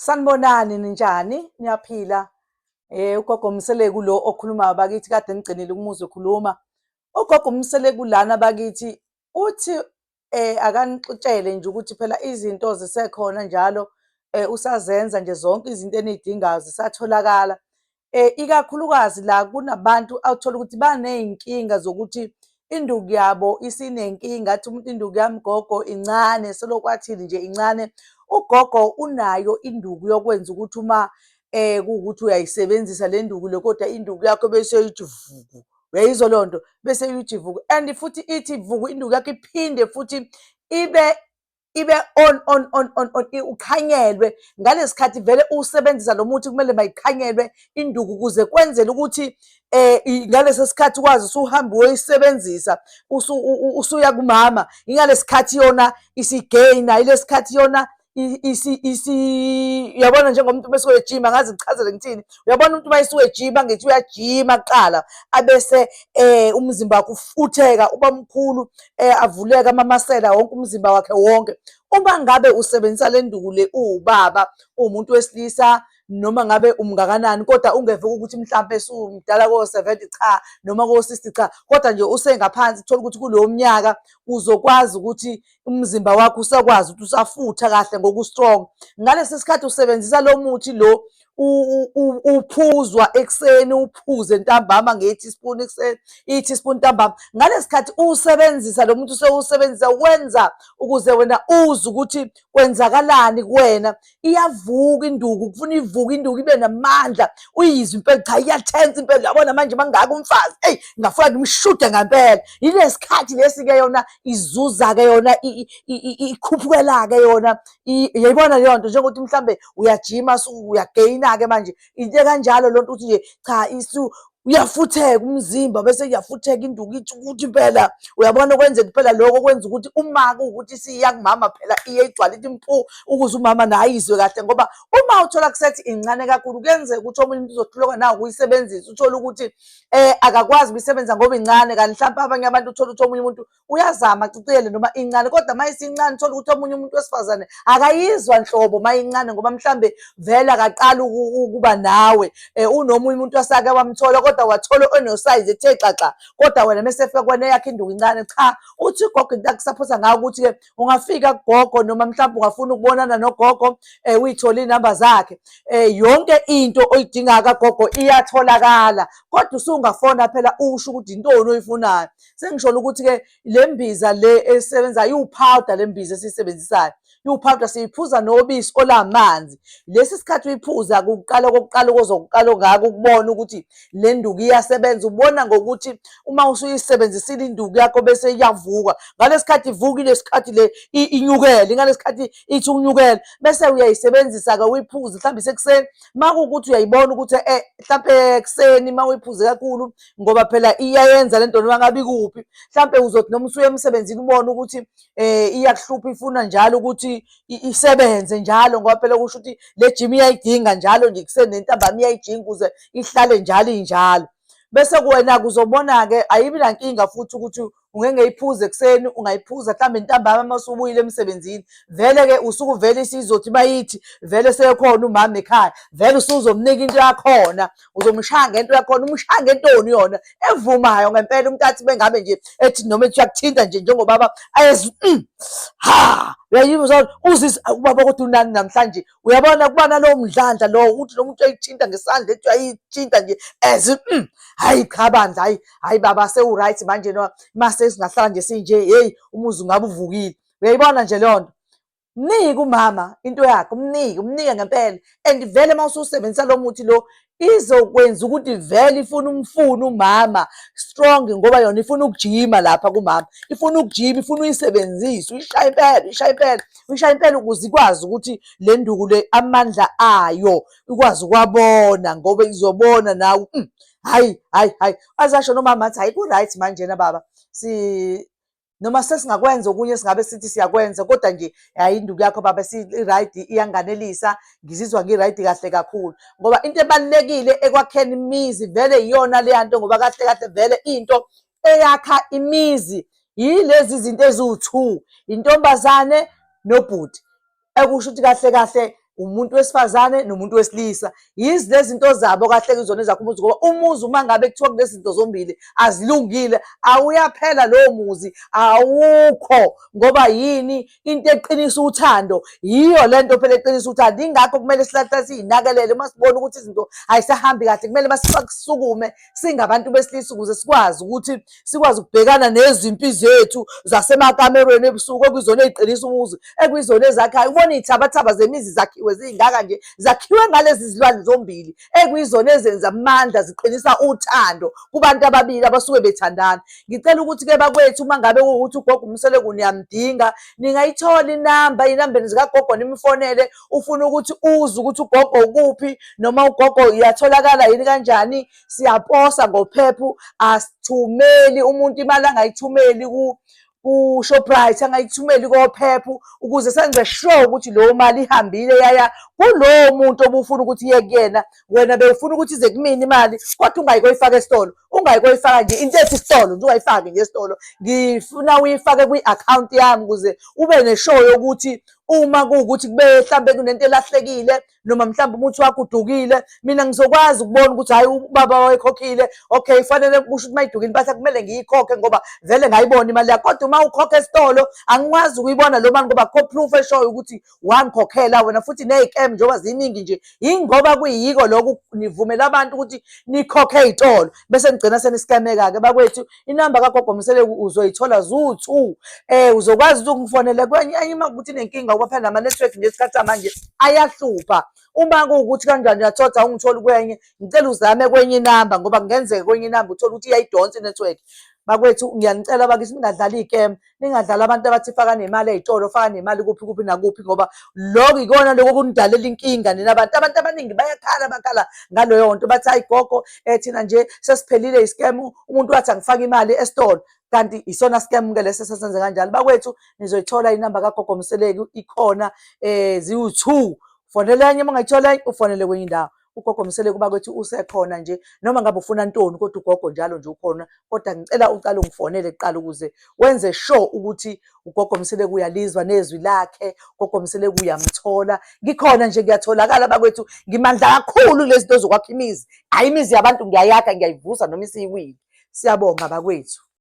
Sanibonani ninjani niyaphila eh ugogo Mseleku lo okhulumayo bakithi kade ngigcinile umuzi okhuluma ugogo Mseleku lana bakithi uthi eh akanixitshele nje ukuthi phela izinto zisekhona njalo eh usazenza nje zonke izinto enidingayo zisatholakala um ikakhulukazi la kunabantu awuthola ukuthi baney'nkinga zokuthi induku yabo isinenkinga athi umuntu induku yami gogo incane selokwathini nje incane ugogo unayo induku yokwenza ukuthi uma eh ukuthi uyayisebenzisa le nduku le kodwa induku yakho bese uyithi vuku uyayizwa leyo nto bese uyithi vuku and futhi ithi vuku induku yakho iphinde futhi ibe ibe on on on on on uqhanyelwe ngalesikhathi vele usebenzisa lo muthi kumele mayiqhanyelwe induku ukuze kwenzele ukuthi eh ngalesi sikhathi kwazi usuhamba uyisebenzisa usuya kumama ingalesikhathi yona isigaina ilesikhathi yona uyabona njengomuntu uma esuke ejima ngazi ngichazele ngithini uyabona umuntu uma esuke ejima ngithi uyajima kuqala abese um umzimba wakhe ufutheka uba mkhulu eh, avuleke amamasela wonke umzimba wakhe wonke uma ngabe usebenzisa le nduku le uwubaba uwumuntu wesilisa noma ngabe umngakanani kodwa ungeve ukuthi mhlawumbe sumdala ko-seventy cha noma ko-sixty cha kodwa nje usengaphansi thola ukuthi kulowo mnyaka uzokwazi ukuthi umzimba wakho usakwazi ukuthi usafutha kahle ngoku-strong ngalesi sikhathi usebenzisa lo muthi lo uphuzwa ekuseni uphuze ntambama nge-teaspoon ekuseni i-teaspoon ntambama ngalesikhathi usebenzisa lo muntu usewusebenzisa ukwenza ukuze wena uze ukuthi kwenzakalani kuwena iyavuka induku kufuna ivuka induku ibe namandla uyizwe impela cha iyathensa impela yabona manje mangaka umfazi eyi ngafuna ngimshude ngampela yilesikhathi lesi-ke yona izuza-ke yona ikhuphukela-ke yona yayibona leyo nto njengokuthi mhlambe uyajima uyageyina-ke manje into ekanjalo loo nto ukuthi nje cha isu uyafutheka umzimba bese uyafutheka induku ithi ukuthi impela uyabona okwenzeka impela lokho kwenza ukuthi uma kuwukuthi isiya kumama phela iye igcwale ithi mpu ukuze umama naye izwe kahle ngoba uma uthola kusethi incane kakhulu kuyenzeka ukuthi omunye umuntu uzohluleka nawo ukuyisebenzisa uthole ukuthi um akakwazi ukuyisebenza ngoba incane kanti mhlawumpe abanye abantu uthole ukuthi omunye umuntu uyazama aciciyele noma incane kodwa uma isincane thola ukuthi omunye umuntu wesifazane akayizwa nhlobo uma incane ngoba mhlambe vele akaqali ukuba nawe um unomunye umuntu wasake wamthola kodwa wathola onosayizi ethe xaxa kodwa wena mese fika kwena yakho induku incane cha uthi ugogo into akusaphosa ngayo ukuthi-ke ungafika kugogo noma mhlawumbe ungafuna ukubonana nogogo um uyithole iy'namba zakhe um yonke into oyidingayo kagogo iyatholakala kodwa usungafona phela usho ukuthi yintoni oyifunayo sengisholo ukuthi-ke le mbiza le esebenzayo iwuphawuda le mbiza esiyisebenzisayo iwuphawuda siyiphuza nobisi olamanzi lesi sikhathi uyiphuza kuqala kokuqala okozokuqala ongaka ukubona ukuthi le nduku iyasebenza ubona ngokuthi uma usuyisebenzisile induku yakho bese iyavuka ngalesi khathi ivukile sikhathi le inyukele ngalesi khathi ithi ukunyukela bese uyayisebenzisa-ke uyiphuze mhlawumbe isekuseni uma kuwukuthi uyayibona ukuthi um mhlawumbe ekuseni uma uyiphuze kakhulu ngoba phela iyayenza lento noma ngabe kuphi mhlambe uzothi noma usuye emsebenzini ubone ukuthi eh iyakuhlupha ifuna njalo ukuthi isebenze njalo ngoba phela kusho ukuthi le gym iyayidinga njalo nje kusenentambama iyayijinga ukuze ihlale njalo injalo bese kuwena kuzobona-ke ayibi nankinga futhi ukuthi ungengeyiphuza ekuseni ungayiphuza mhlawumbe ntambama uma usubuyile emsebenzini vele-ke usuku vele isizothi bayithi vele sekhona umama ekhaya vele usuzomnika into yakhona uzomshaya ngento yakhona umshaya ngentoni yona evumayo ngempela umntathi bengabe nje ethi noma ethi uyakuthinta nje njengobaba ayezi mm, ha uyayizwa uzisa ubaba kodwa unani namhlanje uyabona kuba nalowo mdlandla lowo ukuthi nomuntu uyayithinta ngesandla ethi uyayithinta nje as mm, hayi cha bandla hayi hayi baba sewuright manje no mase singahlala nje sinje hey umuzi ungabe uvukile uyayibona nje leyo nto mnike umama into yakhe umnike umnike ngempela and vele uma ususebenzisa lo muthi lo izokwenza ukuthi vele ifuna umfuna umama strong ngoba yona ifuna ukujima lapha kumama ifuna ukujima ifuna uyisebenzise uyishaye impela uyishaye impela uyishaye impela ukuze ikwazi ukuthi le nduku le amandla ayo ikwazi ukwabona ngoba izobona nawe mm, hayi hayi hayi azasho nomama athi hayi ku-right manjena baba si noma sesingakwenza okunye singabe sithi siyakwenza kodwa nje hayi induku yakho baba si-right iyanganelisa ngizizwa ngi-right kahle kakhulu ngoba into ebalulekile ekwakheni imizi vele iyona leya nto ngoba kahle kahle vele into eyakha imizi yilezi zinto eziwu-two intombazane nobhuti ekusho ukuthi kahle kahle umuntu wesifazane nomuntu wesilisa yizi lezi zinto zabo kahle kuzona ezakho umuzi ngoba umuzi uma ngabe kuthiwa kulezi zinto zombili azilungile awuyaphela lowo muzi awukho ngoba yini into eqinisa uthando yiyo le nto phela eqinisa uthando ingakho kumele silahle siyinakelele uma sibona ukuthi izinto ayisahambi kahle kumele basisukume singabantu besilisa ukuze sikwazi ukuthi sikwazi ukubhekana nezimpi zethu zasemakamerweni ebusuku okuyizona eziqinisa umuzi ekuyizona ezakhayo ubona iy'thabathaba zemizi zakhiwe ziyingaka nje zakhiwe ngalezi zilwane zombili ekuyizona ezenza amandla ziqinisa uthando kubantu ababili abasuke bethandana ngicela ukuthi-ke bakwethu uma ngabe kuwukuthi ugogo umseleku niyamdinga ningayithola inamba inambeni zikagogo nimfonele ufuna ukuthi uze ukuthi ugogo ukuphi noma ugogo iyatholakala yini kanjani siyaposa ngophephu asithumeli umuntu imali angayithumeli ku ku-shoprite angayithumeli kophephu ukuze senze sure ukuthi leyo mali ihambile yaya kulowo muntu obufuna ukuthi iye kuyena wena bewufuna ukuthi ize kumina imali kodwa ungayi koyifaka esitolo ungayi koyifaka nje into ethi isitolo nje ungayifaki nje esitolo ngifuna uyifake kwi-akhawunti yami ukuze ube neshow yokuthi uma kuwukuthi kube mhlambe kunento elahlekile noma mhlambe umuthi wakho udukile mina ngizokwazi ukubona ukuthi hayi ubaba wayekhokhile okay kufanele kusho ukuthi mayidukile impahla kumele ngiyikhokhe ngoba vele ngayibona imali yakho kodwa uma ukhokha esitolo angikwazi ukuyibona lo mali ngoba kho proof eshoyo ukuthi wangikhokhela wena futhi nezicam njengoba ziningi nje yingoba kuyiyiko lokho nivumela abantu ukuthi nikhokhe izitolo bese nigcina seniscameka ke bakwethu inamba kagogo mseleku uzoyithola zu-two um uzokwazi ukuthi ungifonele kwenye enye uma kukuthi nenkinga uba phela nama-network nje isikhathi samanje ayahlupha uma kuwukuthi kanjani uyathoda ungitholi kwenye ngicela uzame kwenye inamba ngoba kungenzeka kwenye inamba uthole ukuthi iyayidonsa i-network bakwethu ngiyanicela bakithi ningadlali ikem ningadlali abantu abathi faka nemali ey'tolo faka nemali kuphi kuphi nakuphi ngoba loko ikona loko okunidalela inkinga nina abantu abantu abaningi bayakhala bakhala ngaleyo nto bathi hayi gogo um thina nje sesiphelile i-scam umuntu wathi angifake imali esitolo kanti isona scam-ke lesi sesenze kanjalo bakwethu nizoyithola inamba kagogo mseleki ikhona um ziwu-two fonela enye uma ungayithola enye ufonele kwenye indawo ugogo msele kuba kwethi usekhona nje noma ngabe ufuna ntoni kodwa ugogo njalo nje ukhona kodwa ngicela uqale ungifonele kuqala ukuze wenze sure ukuthi ugogo msele kuyalizwa nezwi lakhe ugogo msele kuyamthola ngikhona nje ngiyatholakala bakwethu ngimandla kakhulu lezi zinto zokwakha imizi hayi imizi yabantu ngiyayakha ngiyayivusa noma isiyiwile siyabonga bakwethu